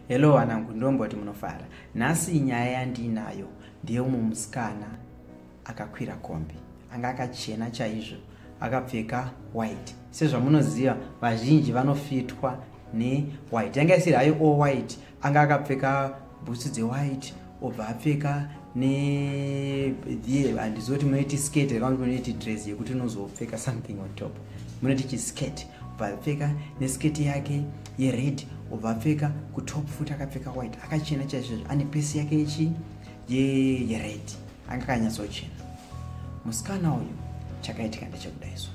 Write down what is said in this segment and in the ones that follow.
Hello wanangu ndomba kuti munofara. Nhasi nyaya yandiinayo ndeyeumwe musikana akakwira kombi. Anga akachena chaizvo akapfeka white. Sezvamunoziva vazhinji vanofitwa newhite. Yanga isiri hayo all white. Anga akapfeka bhutsu dzewhite, obva apfeka neye handiziva kuti munoiti skate here kana kuti munoiti dress yekuti unozopfeka something on top munoti chiskate obva apfeka neskate yake yered obva apfeka kutop futi akapfeka white akachena chaizvezvo ane pesi yake yechi yered anga akanyatsochena musikana uyu chakaitika ndechekudaizvo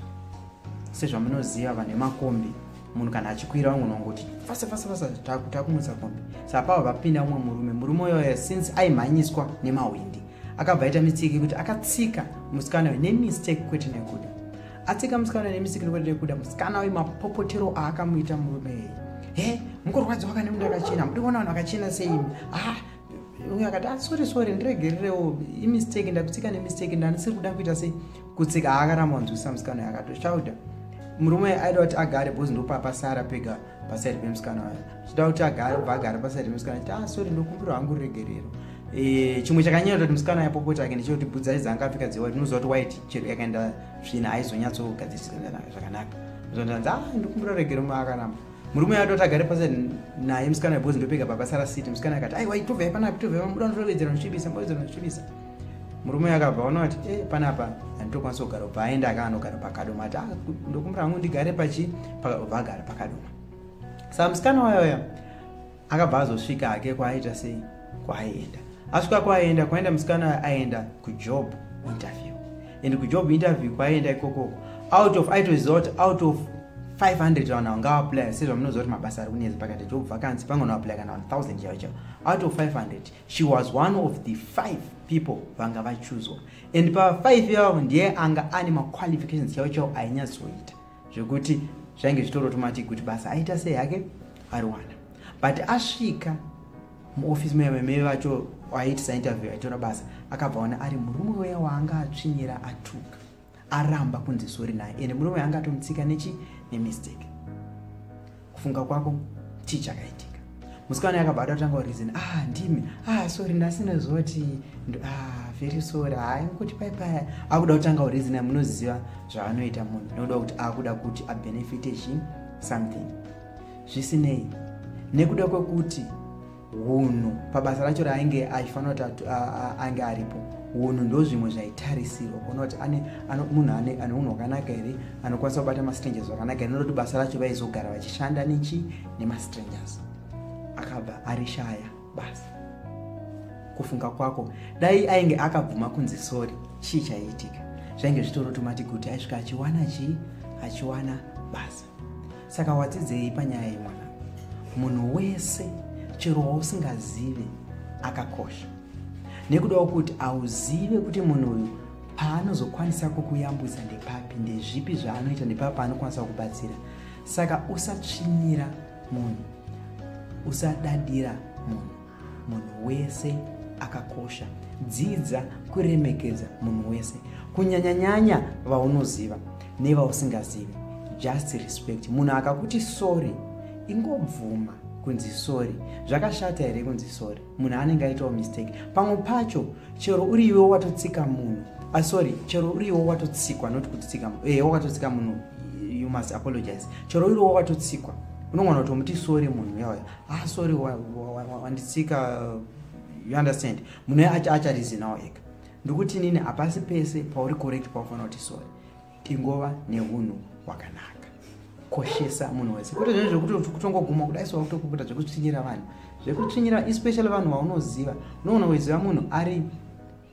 sezvamunoziva vanhu vemakombi munhu kana achikwira vamwe vanongoti fasa fasa fasa takumutsa kombi sa pava vapinda umwe murume murume uyoyo since aimhanyiswa nemahwindi akabva aita mistake yekuti akatsika musikana uyo nemistake kwete nekuda atsika musikana nemistake kwete nekuda musikana uyo mapopotero aakamuita murume eye he mukurwadziwa kane munhu akachena mudi kuona vanhu vakachena seimi ah uyo akati ah, sorry sorry ndiregererewo imistake ndakutsika nemistake ndandisiri kuda kuita sei kutsika haakaramba wanzwisa musikana yakatoshauda murume aida kuti agare bcause ndopapasara pega pasaidi pemusikana wayo chida kuti agare bva agare pasaidi pemusikana chiti ah sorry ndokumbira wangu ruregerero eh, chimwe chakanyanya kuti musikana yapopota ake ndechekuti budza idzi anga apfika dzewati unoziva kuti white chero yakaenda svina aizonyatsogadzirisa zvakanaka zvandanzi ah ndikumbira ruregerero maakaramba murume atoti agare pasi naye musikana because ndopega pakasara city musikana akati aiwa itovai panapa tovai mamuda ndotovedzera ndichibisa mboedzera ndichibisa murume akabva ona kuti e eh, panapa handitokwanisa kugara ubva aenda aka anogara pakadoma ati ah, ndokumbira hangu ndigare pachi ubva agara pakadoma sa musikana wayawaya akabva azosvika hake kwaaita sei kwaaienda asvika kwaaenda kwaenda musikana aenda kujob interview and kujob interview kwaienda ikokoko out of aitoziva kuti out of 500 vanhu vangaapplya sezvamunoziva kuti mabasa ari kunetsa pakati job vacancy pangona applya kana 1000 chaivo chavo out of 500 she was one of the five people vanga vachuzwa and pa5 yavo ndiye anga ane maqualifications chaivo chavo ainyatsoita zvekuti zvainge zvitori automatic kuti basa aita sei hake ariwana but asvika muofisi meme vacho aiitisa interview aitora basa akabva ona ari murume weya waanga atsvinyira atuka aramba kunzi sori naye ende murume anga atomutsika nechi nemistake kufunga kwako chii chakaitika musikana yakabva atatanga reason ah ndimi ah sorry ndasina zoti ah very sorry hayi ah, kuti pai paya akuda kutanga reason munoziva zvaanoita munhu nokuda kuti akuda kuti abenefite chi something zvisinei nekuda kwekuti hunhu pabasa racho raainge achifanira kuti ange aripo hunhu ndozvimwe zvaitarisirwa kuona kuti munhu ane unhu hwakanaka here anokwanisa kubata mastrangers zvakanaka here nekuti basa racho vaizogara vachishanda nechi nemastrangers akabva arishaya basa kufunga kwako dai ainge akabvuma kunzi sori chii chaiitika zvainge zvitoroti mati kuti aisvika achiwana chii achiwana basa saka wadzidzei panyaya yemwana munhu wese chero wausingazive akakosha nekudawo kuti auzive kuti munhu uyu paanozokwanisa kukuyambwisa ndepapi ndezvipi zvaanoita ndepapi paanokwanisa kubatsira saka usatsvinyira munhu usadadira munhu munhu wese akakosha dzidza kuremekedza munhu wese kunyanyanyanya vaunoziva nevausingazivi just respect munhu akakuti sorry ingobvuma kunzi sorry zvakashata here kunzi sorry munhu anenge aitawo mistake pamwe pacho chero uri iwe watotsika munhu ah, sorry chero uri iwe watotsikwa not kutsika eh, wakatotsika munhu you must apologize chero uri iwe watotsikwa unongona kuti omuti sorry munhu yauya ah sorry wanditsika wa, wa, wa, wa, you understand munhu acharizinawo ega ndokuti nini hapasi pese pauri correct paufanira kuti sorry ingova neunhu hwakanaka koshesa munhu wese kuti zvinhu zvekuti kutongoguma kudai so wakutokubuda zvekutsvinyira vanhu zvekutsvinyira especially vanhu vaunoziva unoona weziva munhu ari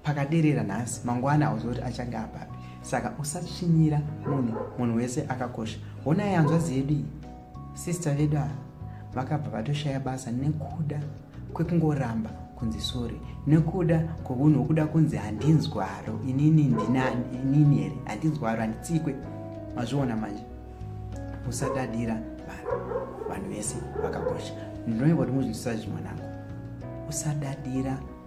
pakaderera nhasi mangwana hauziva kuti achange apapi saka usatsvinyira munhu munhu wese akakosha hona yanzvazi yedu iyi sista vedu ava vakabva vatoshaya basa nekuda kwekungoramba kunzi sori nekuda kwounhu hwokuda kunzi handinzwaro inini ndinani inini here handinzwaro handitsikwe mazviona manje usadadira vanhu vanhu vese vakakosha ndinoiva kuti muzvinzwisazvi mwanangu usadadira